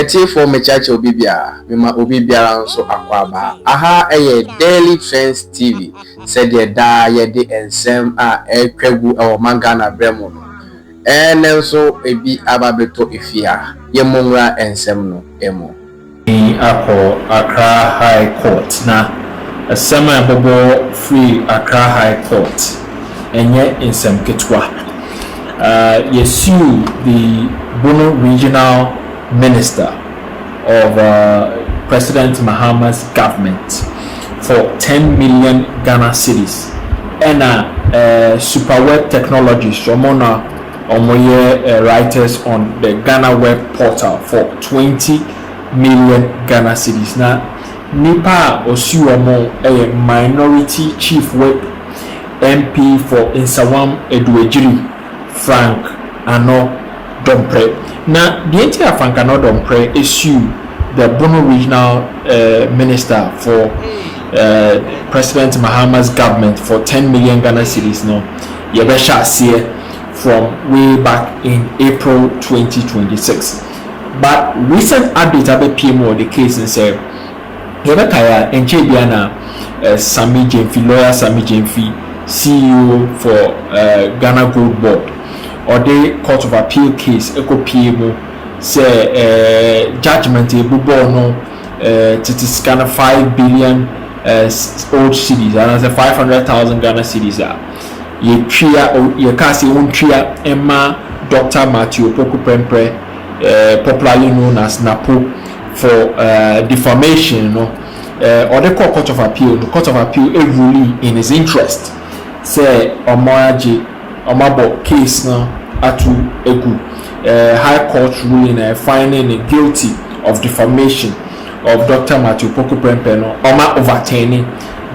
Atiefoɔ mekyerɛkyerɛ obi biara mema obi biara nso akwaaba aha ɛyɛ Daily Trends TV sɛdeɛ daa yɛde nsɛm a ɛretwa gu ɛwɔ ma Ghana berɛ mu no ɛnɛ nso ebi aba bɛtɔ efie ha yɛmmɔ nwura nsɛm no mu. Ɔsan akɔ Accra High Court na asɛm a ɛbɛbɔ firi Accra High Court ɛnyɛ nsɛm ketewa. Yɛsued the Bono Regional Minister of President Mahama's government for ten million Ghana cedis ɛna Superweb Technologies wɔn na Wɔyɛ Writers on the Ghana Web Portal for twenty million Ghana cedis na nnipa a ɔsi wɔn no yɛ Minority Chief Whip MP for Nsawam Aduagyiri, Frank Ano Domprɛ. Na deɛ nti a Frank Ano Domprɛ siw the Bono Regional Minister for President Mahama's Government for ten million Ghana cedis no, Yɛbɛhyɛ aseɛ from way back in April twenty twenty six but recent update abɛpue mu wɔ the case no sɛ yɛbɛkae a ɛnkyɛɛ biara na Sammy Gyamfi, lawyer Sammy Gyamfi, CEO for Ghana Gold Board ɔde court of appeal case ɛkɔpue mu sɛ judgement a ɛbobɔɔ no tete sika no five billion eh, old cedis anaasɛ five hundred thousand ghana cedis a yɛtwea yɛkaa sɛ wɔntwea ɛma dr matthew opoku prɛmprɛ eh, popularly known as napo for eh, defamation no ɔde eh, kɔ court of appeal no court of appeal eruli in his interest sɛ ɔmo agye ɔmo abɔ case no ato egu eh, high court ruling na ɛfine ne guilty of defamation of Doctor Matthew Poku Prempeh no ɔma overturni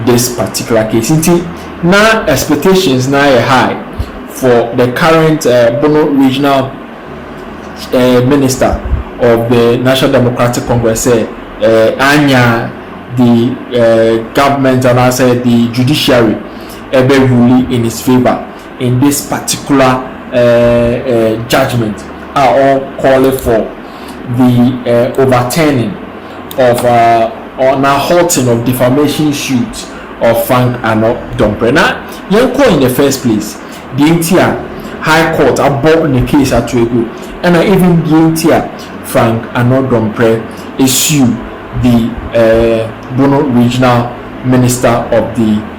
this particular case nti na expectations no ayɛ high for the current eh, Bono regional eh, minister of the National Democratic Congress sɛ eh, anya the eh, government anaasɛ the judiciary ɛbɛ rule in his favour in this particular uh, uh, judgment a ɔ calling for the uh, overturning of uh, or na halting of defamation suit of Frank Ano Dompre na yɛn kɔ in the first place deɛ nti a high court abɔ ne case ato agu ɛna even deɛ nti a Frank Ano Dompre sue the uh, Bono regional minister of the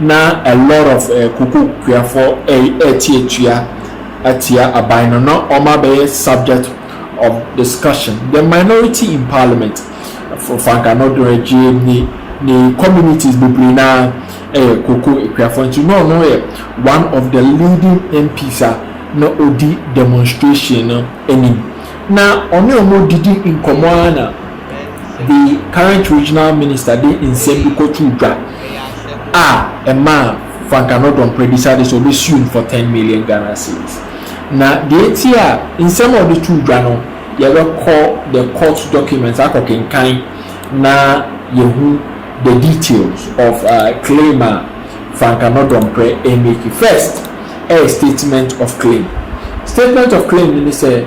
Na a lot of eh kokokuafoɔ ɛɛte atua atia aban no na wɔn abɛyɛ subject of discussion the minority in parliament for anka no do ɛgyeɛ ne ne communities bebree no ara ɛyɛ koko kuafoɔ nti na ɔno yɛ one of the leading MPs a na ɔdi demonstration no anim na ɔne wɔn didi nkɔmɔ ara na The current regional minister de nsɛm bi kɔtoo dwa a ɛmaa Frank Annor-Dompreh decided sɛ ɔbɛsue no for ten million Ghana cedis. Na deɛ enti a nsɛm a ɔde too dwa no, yɛbɛkɔ the court documents akɔkenkan na yɛahu the details of claim a Frank Annor-Dompreh remake. First, ɛyɛ statement of claim. Statement of claim no ne sɛ,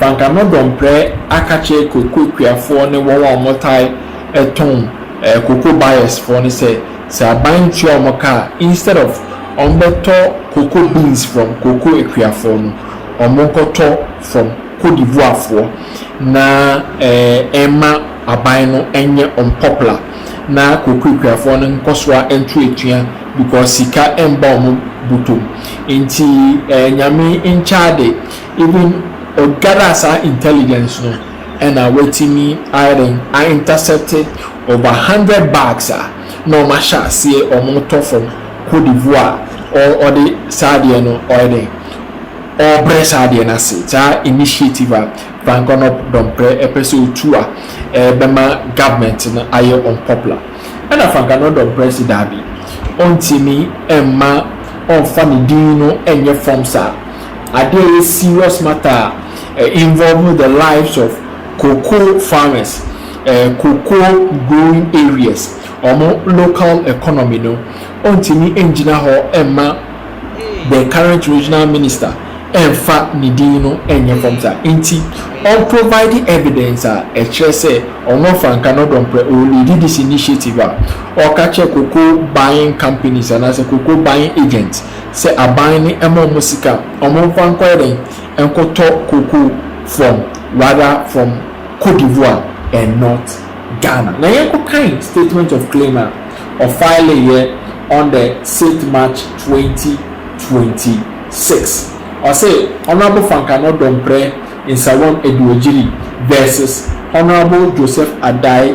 Banka no dɔmprɛ akakyerɛ koko kuafoɔ ne wɔn a wɔtae tɔn koko buyers foɔ no sɛ sɛ aban ntua wɔn ka a instead of wɔn bɛtɔ koko beans from koko akuafoɔ no wɔn nkɔtɔ from Cote d'Ivoire foɔ na ɛmma aban no nyɛ wɔn popular na koko akuafoɔ no nkɔsoa nto atua because sika mba wɔn bɔtɔ mu nti nyame nkyɛade Even ɔ gather saa intelligence no ɛna watumi ayɛdɛn a intercept over hundred bags a na ɔmo ahyɛ aseɛ ɔmo tɔ from cote d'Ivoire ɔ ɔde saa adeɛ no ɔyɛ dɛn ɔbrɛ saa adeɛ no ase saa initiative a Frank Onop Domprɛ ɛpɛ sɛ ɔtu a ɛbɛma government no ayɛ unpopular ɛna Frank Onop Domprɛ se daabi ɔntumi ɛmma ɔnfa ne din no ɛnyɛ form saa adeɛ a ɛyɛ serious matter a ɛ involve the lives of cocoa farmers, ɛ cocoa growing areas, wɔn local economy no, ɔntumi ngyina hɔ mma the current regional minister mfa ne din no nyɛ fam saa. Nti ɔn provide evidence a ɛkyerɛ sɛ ɔno ɔfranka no dɔ mprɛ, ɔ leadi this initiative a ɔka kyerɛ cocoa buying companies anaasɛ cocoa buying agents sɛ aban no ɛma ɔmo sika a ɔmo nfa nkɔ yɛ dɛn nkɔ tɔ cocoa from rather from cote d'Ivoire and not Ghana na yɛn kɔ kan statement of claim a ɔfile yɛ on the sixth March twenty twenty six ɔse Honourable Fankano Dompreh Nsawam Aduogyiri versus Honourable Joseph Adai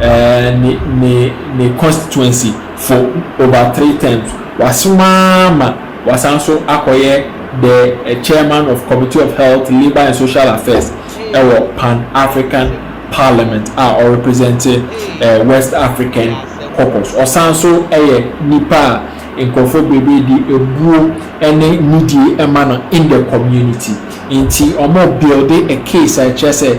ne ne ne constituency for over three terms wasom ara ma wasan nso akɔyɛ the chairman of committee of health, labour and social affairs ɛwɔ pan African parliament a ɔrepresente west African caucus ɔsan nso ɛyɛ nipa a nkurɔfoɔ bebree de abuo ɛne nidie ɛma no in the community nti ɔmo builde a case a ɛkyerɛ sɛ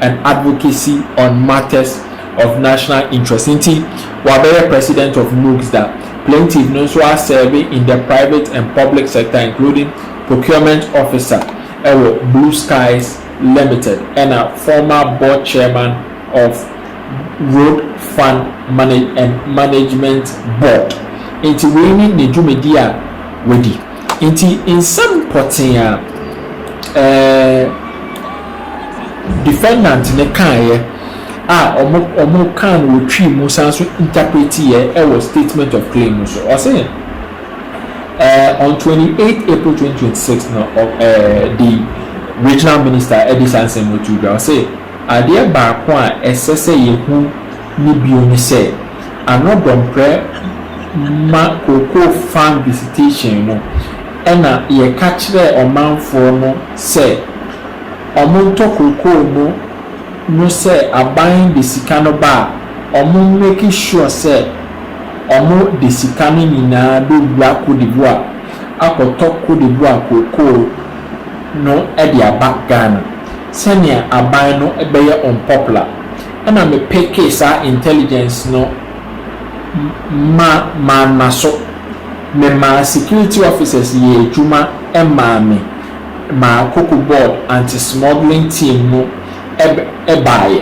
and advocacy on matters of national interest nti wabɛyɛ president of MUGSDA. Plaintiff no nso asɛɛve in the private and public sector including procurement officer wɔ Blue Skies Limited ɛna former board chairman of Road Fund and Management Board nti wei ne ne dwumadi a wadi nti nsɛm pɔtee a ɛɛ Defendant no kaeɛ a wɔn wɔn kaa no wɔ twi mu san nso interpretiiɛ wɔ statement of claim no so. Ɔse eh, on twenty eight April twenty twenty six no ɔ eh, the regional minister de saa nsɛm no too dwa. Ɔse adeɛ baako a ɛsɛ sɛ yɛhu ne bio ne sɛ ano dɔmprɛ ma cocoa farm visitation no ɛna yɛka kyerɛɛ ɔmanfoɔ no sɛ wɔntɔ kookoo no no sɛ aban de sika no ba a, wɔn make sure sɛ wɔde sika no nyinaa bɛwura Côte d'Ivoire akɔtɔ Côte d'Ivoire kookoo no de aba Ghana sɛnea aban no bɛyɛ unpopular. Ɛna me pekee saa intelligence no ma manna so. Memaa security officers yɛɛ adwuma maa me. ma Koko Board Anti-Smuggling Team no baeɛ,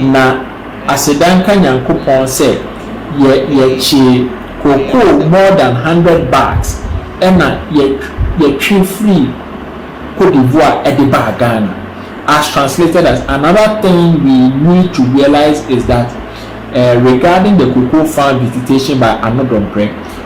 na aseda nka Nyankopɔn sɛ yɛkyee kokoo more than hundred bags na yɛtwe firii Cote d'Ivoire de baa Ghana. As translated as, Another thing we need to realise is that regarding the cocoa farm visitation by Ano Dompreh,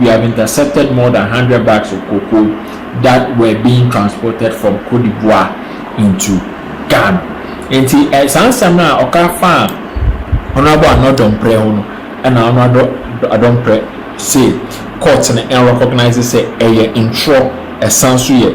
we have intercepted more than hundred bags of cocoa that were being transported from Cote d'Ivoire into Ghana. Nti eh, saa nsɛm no a ɔka fa a Honorable Ano Adomprɛ ho no, ɛna Honorable Adomprɛ se court no ɛnrecognize sɛ ɛyɛ ntorɔ, ɛsan so yɛ